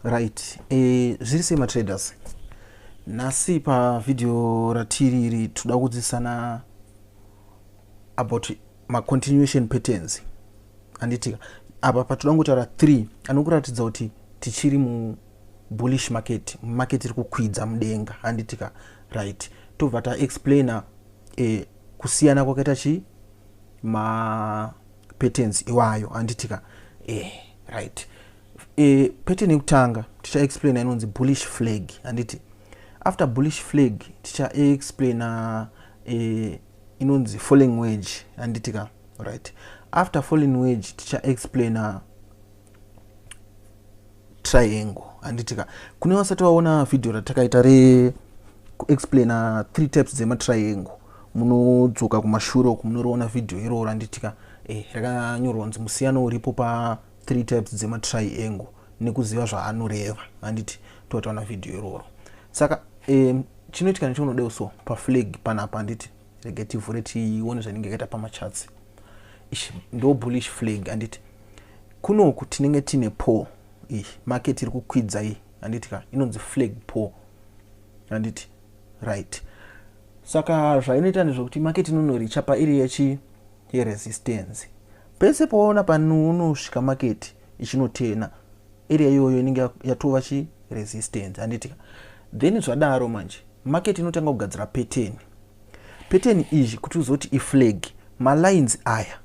right e, zviri sei matraders nhasi pavhidhiyo ratiri iri toda kudzidzisana about macontinuation patterns anditika apa patoda kungotaura three anokuratidza kuti tichiri mubullish market market iri kukwidza mudenga handitika right tobva taexplaina e, kusiyana kwakaita chii ma patterns iwayo handitika eh, right eh, pattern yekutanga ticha explaina inonzi bullish flag handiti after bullish flag ticha explaina eh, inonzi falling wage handitika right after falling wage ticha explaina triangle handitika kune vasati vaona vhidhiyo ratakaita re kuexplaina three types dzematriangle munodzoka kumashure uku munoriona vhidhiyo iroro handitika eh, rakanyorwa kunzi musiyano uripo pa three types dzematriangle nekuziva zvaanoreva handiti totaona vhidhiyo iroro saka eh, chinoitika nechaunodewo so paflag panapa handiti regetivhure tione zvainenge yakaita pamachatsi ishi ndo bullish flag handiti Kunoku tinenge tine poor iyi market iri kukwidza iyi handiti ka inonzi flag poor handiti right saka zvainoita ndezvekuti market inonoricha pairi yechi yeresistance pese paona panounosvika market ichinotena area iyoyo inenge yatova chi resistance handiti ka then zvadaro manje market inotanga kugadzira pattern pattern izvi kuti uzoti iflag malines aya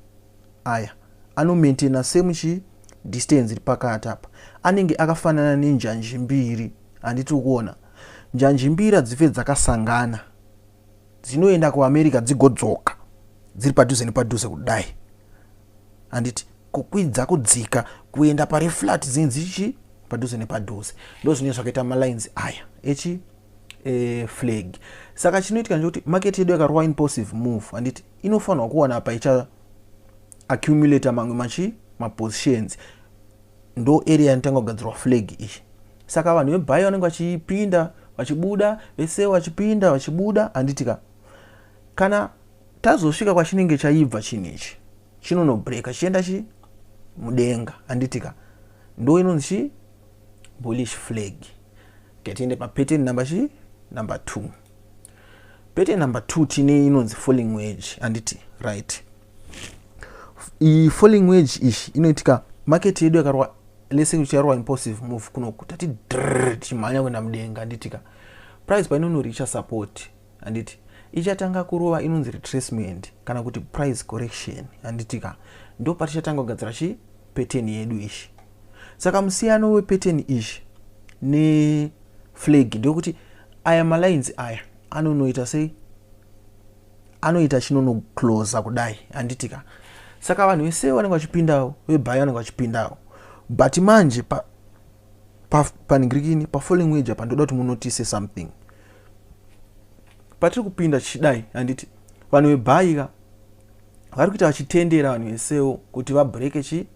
aya ano maintainer same chi distance iri pakati apa anenge akafanana nenjanji mbiri handiti ukuona njanji mbiri hadzife dzakasangana dzinoenda kuamerica dzigodzoka dziri padhuze nepadhuze kudai handiti kukwidza kudzika kuenda pari flat dzinge dzichi padhuze nepadhuze ndo zvinenge zvakaita malines aya echi e, flag saka chinoitika ndechekuti market yedu yakarova impulsive move handiti inofanirwa kuwana apa icha accumulator mamwe machi mapositions ndo area yanotanga kugadzirwa flag iyi saka vanhu vebhayi vanenge vachipinda vachibuda vese vachipinda vachibuda handitika kana tazosvika kwachinenge chaibva chinhu ichi chinonobreaka chichienda chi mudenga handitika ndo inonzi chi bullish flag katiende papattern number chi number two Bete number two tine inonzi falling wage handiti right. Iyi falling wage iyi inoitika market yedu yakarwa lese kuti yarwa impulsive move kunoku tati drrr tichimhanya kuenda mudenga handitika price painonoricha support handiti ichatanga kurova inonzi retracement kana kuti price correction handitika ndo patichatanga kugadzira chii pattern yedu ishi saka musiyano wepattern ishi neflag ndeyokuti aya malines aya anonoita sei anoita chinonoclosa kudai handitika saka vanhu vese vanenge vachipindawo vebhayo vanenge vachipindawo but manje pa, pa, paningirikini pafollowing wage apa ndoda kuti munotise something patiri kupinda tichidai handiti vanhu vebhaika vari kuita vachitendera vanhu veseu kuti vabreake chi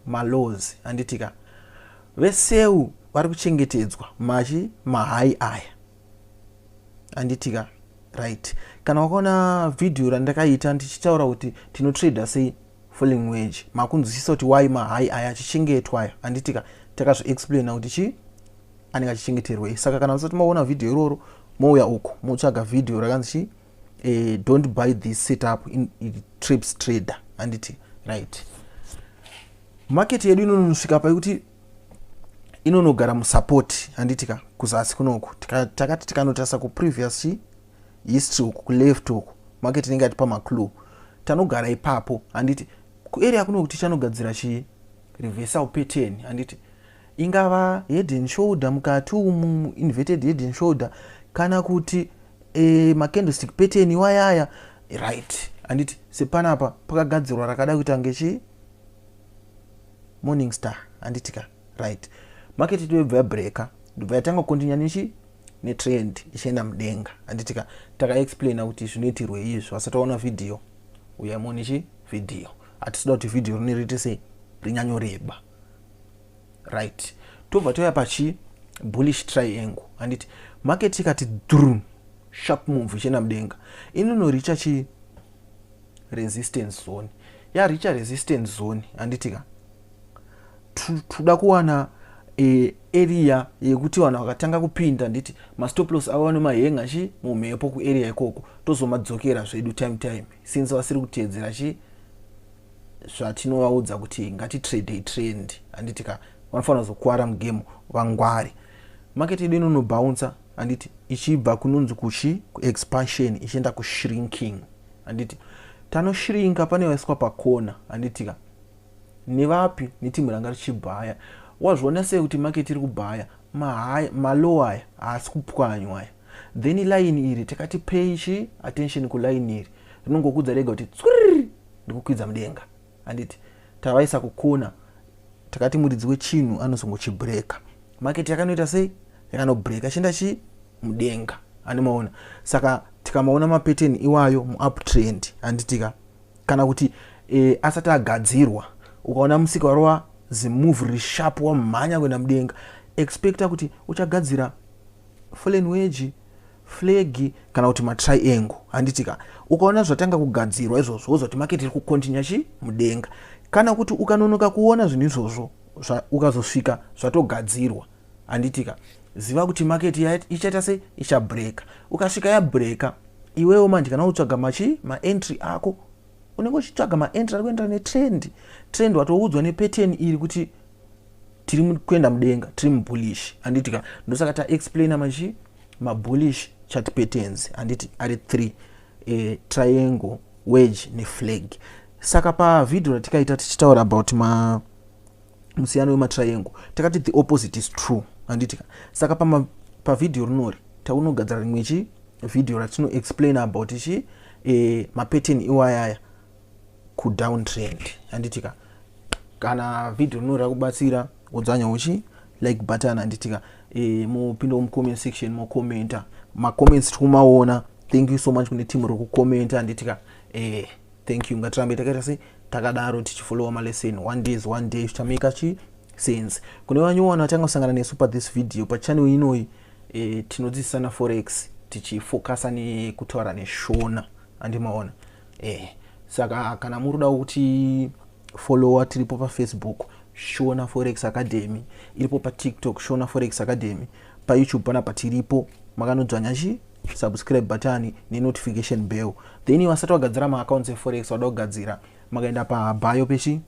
malaws handitika veseu vari kuchengetedzwa machi mahai aya handitika right kana wakaona vhidhiyo randakaita ndichitaura kuti tinotrader sei falling wage makunzwisisa kuti why mahai aya achichengetwa aya handitika takazviexplaina kuti chii anenge achichengeterwei saka kana musati maona vhidhiyo iroro mouya uku motsvaga vhidhiyo rakanzi chii uh, don't buy this setup in, in trips trader handiti right market yedu inonosvika paikuti inonogara musupport handiti ka kuzasi kunoku takati tikanotarisa kuprevious chi history uku kuleft uku market inenge yatipa maclue tanogara ipapo handiti kuarea kunoku tichanogadzira chi reversal pattern handiti ingava head and shoulder mukati umu inverted head and shoulder kana kuti e, macandlestick pattern iwayaya right handiti sepanapa pakagadzirwa rakada kuita ngechi morning star handiti ka right market itobva yabreaka ndobva yatanga kukontinya nechi netrend ichienda mudenga handiti ka takaexplaina kuti zvinoitirwei izvi vasati vaona vhidhiyo uyai muone chi vhidhiyo hatisida kuti vhidhiyo rineriite sei rinyanyoreba right tobva toya pachi bullish triangle handiti market ikati drum sharp move ichienda mudenga inonoricha chi resistance zone yaricha resistance zone handiti ka toda kuwana e, area yekuti vanhu vakatanga kupinda nditi mastoplos avo vane mahenga chi mumhepo kuarea ikoko tozomadzokera zvedu time time since vasiri kuteedzera chi zvatinovaudza kuti ngatitradei trend handiti ka vanofanira kuzokwara mugame vangwari market yedu inonobhouncer handiti ichibva kunonzi kuchi kuexpansion ichienda kushrinking handiti tanoshrinka pane vaiswa pakona handiti ka nevapi netimu ranga richibhaya wazviona sei kuti market iri kubhaya malow aya haasi kupwanywa aya then line iri takati pay chi attention kuline iri rinongokudza rega kuti tswiriri ndikukwidza mudenga handiti tavaisa kukona takati muridzi wechinhu anozongochibreaka market yakanoita sei yakanobreaka achienda chii mudenga anemaona saka tikamaona mapateni iwayo muuptrend handitika kana kuti e, asati agadzirwa ukaona musika warova zimove risharp wamhanya kuenda mudenga expecta kuti uchagadzira fulenweji flegi kana kuti matriangle handiti ka ukaona zvatanga kugadzirwa izvozvo wozoti maketi iri kukontinya chi mudenga kana kuti ukanonoka kuona zvinhu izvozvo ukazosvika zvatogadzirwa handiti ka ziva kuti maketi ichaita se ichabreaka ukasvika yabreaka iwewo manje kana utsvaga machi maentry ako unenge uchitsvaga maentry ari kuenderana netrend trend watoudzwa nepatern iri kuti tiri kuenda mudenga tiri mubullish handiti ka ndosaka taexplaina machi mabullish chati patterns handiti ari three e, triangle wedge neflag saka pavhidhio ratikaita tichitaura about ma musiyano wematriangle takati the opposite is true handiti ka saka pavhidhio rinori taunogadzira rimwe chi vhidhio ratinoexplaina about chi e, mapattern iwayaya kudown trend handitika kana video rinoda kubatsira udzanya uchi like button handitika e, eh, mupinda mucomment section mocommenta macomments tikumaona thank you so much kune team rokucommenta handitika e, eh, thank you ngatirambe takaita se takadaro tichifollowa malesson one days one day zvichameka chi sense kune vanyowana vatanga kusangana nesu pathis video pachannel inoyi e, tinodzidzisana forex tichifocusa nekutaura neshona andimaona eh saka kana muri kuda kuti follower tiripo pafacebook shona forex academy iripo patiktok shona forex academy payoutube pana patiripo makanodzvanya chi subscribe button nenotification bell then vasati vagadzira maaccounts eforex vada kugadzira makaenda pabayo pechi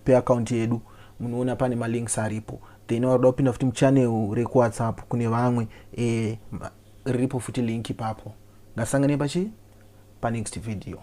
peaccount yedu munoona pane malinks aripo then vakuda kupinda futi muchannel rekuwhatsapp kune vamwe e, riripo futi link ipapo ngasangane pachi panext video.